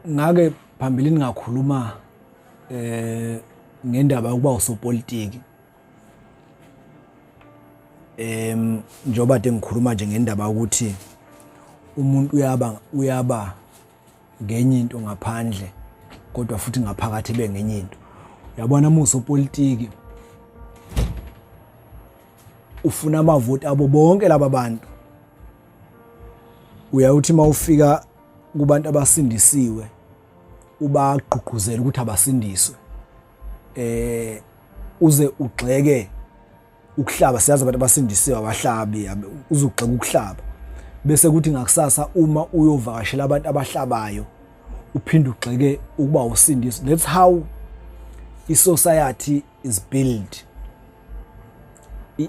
ngake phambilini ngakhuluma eh ngendaba yokuba usopolitiki em njoba de ngikhuluma nje ngendaba ukuthi umuntu uyaba uyaba ngenye into ngaphandle kodwa futhi ngaphakathi be ngenye into yabona muso politiki ufuna amavoti abo bonke laba bantu uyawuthi uma ufika kubantu abasindisiwe ubagqugquzela ukuthi abasindiswe eh uze ugxeke ukuhlaba siyazi abantu abasindisiwe abahlabi uze ugxeke ukuhlaba bese kuthi ngakusasa uma uyovakashela abantu abahlabayo uphinde ugxeke ukuba usindiswe that's how i-society is built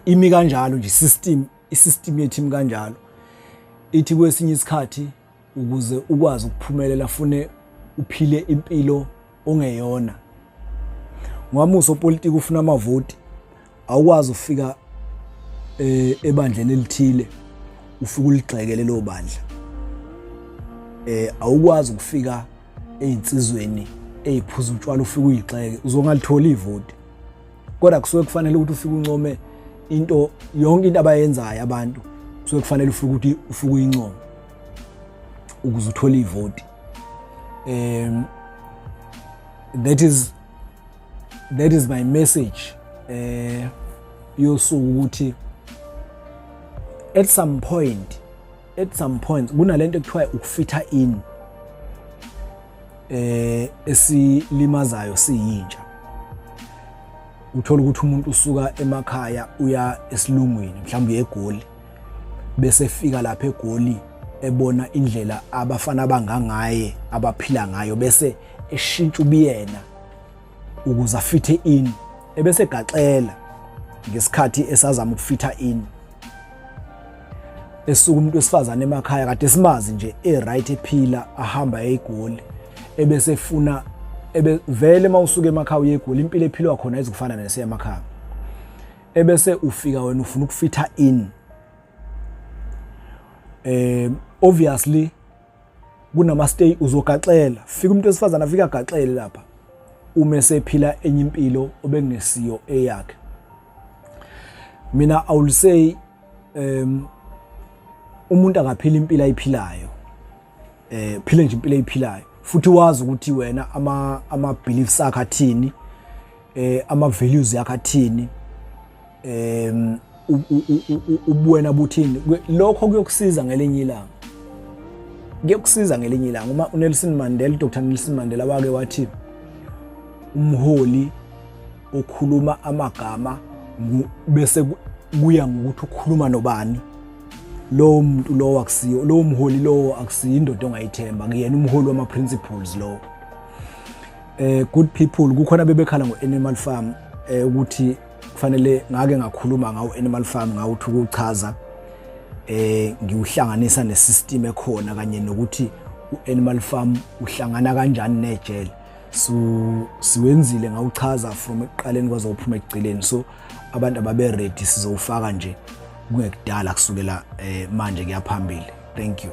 imi kanjalo nje system Isystem yethu imi kanjalo. Ithi kwesinye isikhathi ukuze ukwazi ukuphumelela fune uphile impilo ongeyona. Ngwamuso politiki ufuna amavoti awukwazi ufika eh, ebandleni elithile ufike uligxekele lo bandla. Eh awukwazi ukufika ezinsizweni eziphuza utshwala ufike uyigxeke uzongalitholi ivoti. kodwa kusuke kufanele ukuthi ufike uncome into yonke into abayenzayo abantu kusuke kufanele ufike ukuthi ufike uyincome ukuze uthole ivoti um that is that is my message eh yosuku ukuthi at some point at some point kunalento ekuthiwa ukufitha in eh esilimazayo siyintsha uthola ukuthi umuntu usuka emakhaya uya esilungwini mhlawumbe uye egoli bese efika lapha egoli ebona indlela abafana abangangaye abaphila ngayo bese eshintsha ubiyena ukuze afithe in ebese gaxela ngesikhathi esazama ukufitha in esuka umuntu wesifazane emakhaya kade simazi nje e-right ephila ahamba eyigoli ebese efuna ebe vele mawusuke emakhaya uyegoli impilo ephilwa khona izikufana nese emakhaya ebese ufika wena ufuna ukufitha in eh obviously kunamastay uzogaxela fika umuntu wesifazane afika agaxele lapha uma esephila enye impilo obengesiyo eyakhe mina i will say um umuntu akaphila impilo ayiphilayo eh phile nje impilo ayiphilayo futhi wazi ukuthi wena ama ama beliefs akhe athini eh ama values yakhe athini em ubuwena buthini lokho kuyokusiza ngelinye ilanga kuyokusiza ngelinye ilanga uma uNelson Mandela Dr Nelson Mandela wake wathi umholi okhuluma amagama bese kuya ngokuthi ukhuluma nobani lowo muntu lowo akusiyo lowo mholi lowo akusiyo indoda ongayithemba kuyena umholi wama-principles lowo eh good people kukhona bebekhala ngo animal farm eh ukuthi kufanele ngake ngakhuluma ngawo animal farm ngawuthi ukuchaza eh ngiwuhlanganisa ne system ekhona kanye nokuthi u animal farm uhlangana kanjani nejele so siwenzile ngawuchaza from ekuqaleni kwaze uphuma ekugcileni so abantu ababe ready sizowufaka nje kungekudala kusukela eh, manje kuyaphambili thank you